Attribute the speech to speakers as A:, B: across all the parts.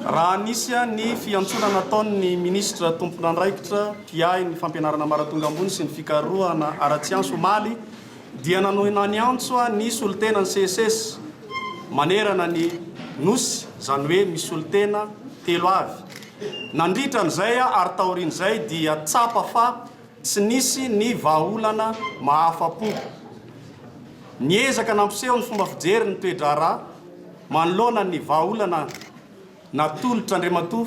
A: Raha nisy ny fiantsoana nataon'ny minisitra tompon'andraikitra mpiahy ny fampianarana ambaratonga ambony sy ny fikarohana ara-tsiansa omaly dia nanohina niantso ny solontenan'ny CSS manerana ny Nosy, izany hoe misy solontena telo avy. Nandritra an'izay ary taorian'izay dia tsapa fa tsy nisy ny vahaolana mahafa-po. Niezaka nampiseho ny fomba fijery ny toe-draharaha. Manoloana ny vahaolana natolotr' Andriamatoa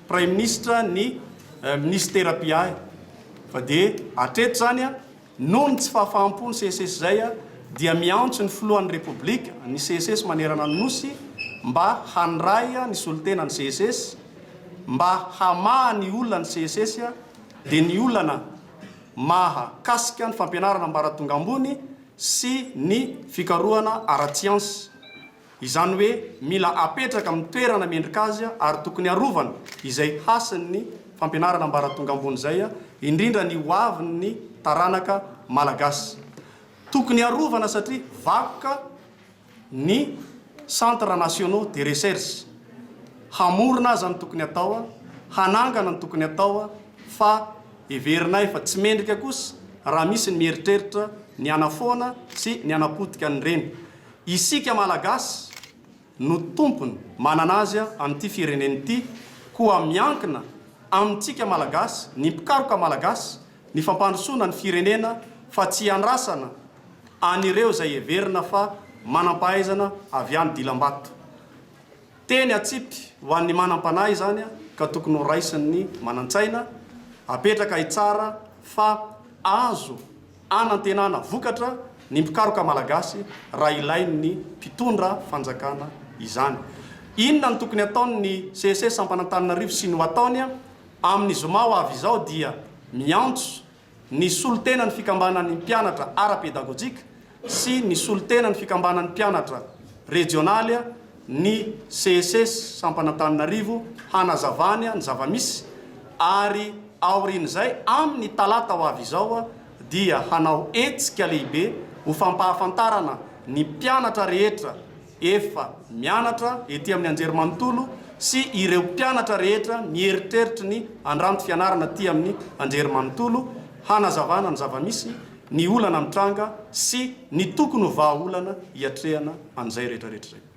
A: Praiminisitra ny Minisitera mpiahy fa dia hatreto izany noho ny tsy fahafaham-po ny CSS zay dia miantso ny Filohan' ny Repoblika ny CSS manerana ny Nosy mba handray ny solontena ny CSS mba hamaha ny olana ny CSS dia ny olana mahakasika ny fampianarana ambaratonga ambony sy ny fikarohana ara-tsiansa. Izany hoe mila apetraka amin'ny toerana mendrika azy ary tokony arovana izay hasin'ny fampianarana ambaratonga ambony izay, indrindra ny ho avin'ny taranaka malagasy. Tokony arovana satria vakoka. ny Centres Nationaux de Recherche, hamorona aza ny tokony atao, hanangana ny tokony atao fa heverinay fa tsy mendrika kosa raha misy ny mieritreritra ny hanafoana sy ny hanapotika an'ireny. Isika Malagasy no tompony manana azy amin'ity firenena ity koa miankina amintsika Malagasy, ny mpikaroka Malagasy, ny fampandrosoana ny firenena fa tsy iandrasana an'ireo izay heverina fa manam-pahaizana avy any dilam-bato. Teny atsipy ho an'ny manam-panahy izany ka tokony ho raisin'ny manan-tsaina apetraka hitsara fa azo anantenana vokatra ny mpikaroka malagasy raha ilain'ny mpitondra fanjakana izany. Inona no tokony ataon'ny CEC sampan'Antananarivo sy ny ho ataony? Amin'ny zoma ho avy izao dia miantso Ny solontenan'ny fikambanan'ny mpianatra ara-pedagojika sy ny solontenan'ny fikambanan'ny mpianatra rejionaly ny CESES Sampan'Antananarivo hanazavany ny zava-misy ary aorian'izay amin'ny talata ho avy izao dia hanao hetsika lehibe ho fampahafantarana ny mpianatra rehetra efa mianatra ety amin'ny anjerimanontolo sy ireo mpianatra rehetra mieritreritry ny handranto fianarana aty amin'ny anjerimanontolo hanazavana ny zava-misy, ny olana mitranga sy ny tokony ho vahaolana hiatrehana an'izay rehetrarehetra izay.